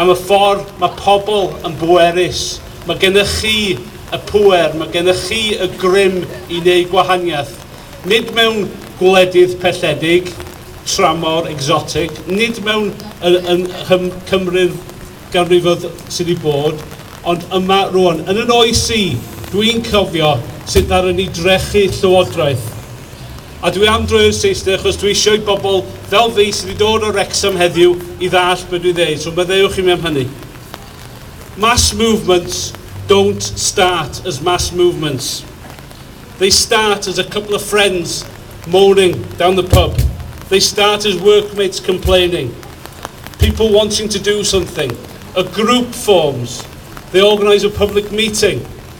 Am y ffordd mae pobl yn bwerus. Mae gennych chi y pŵer, mae gennych chi y grym i wneud gwahaniaeth. Nid mewn gwledydd pelledig, tramor, exotic, nid mewn yng Nghymru'r ganrifoedd sydd wedi bod, ond yma rŵan. Yn 'y noes i, dwi'n cofio sut ddaru ni drechu Llywodraeth. A dwi am droi'r Saesneg achos dwi isio i bobl fel fi sydd wedi dod o Wrecsam heddiw i ddallt be dwi'n ddeud, so maddeuwch i mi am hynny. Mass movements don't start as mass movements. They start as a couple of friends moaning down the pub. They start as workmates complaining. People wanting to do something. A group forms. They organise a public meeting.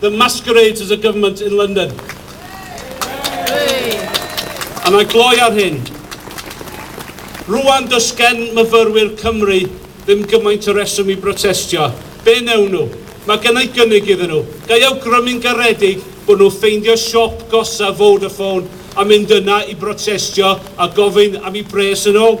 that masquerades as a government in London. A mae gloi ar hyn. Rwan does gen myfyrwyr Cymru ddim gymaint o reswm i brotestio. Be newn nhw? Mae gennau gynnig iddyn nhw. Ga i awgrymu'n garedig bod nhw ffeindio siop gosa Vodafone a mynd yna i brotestio a gofyn am i bres yn ôl?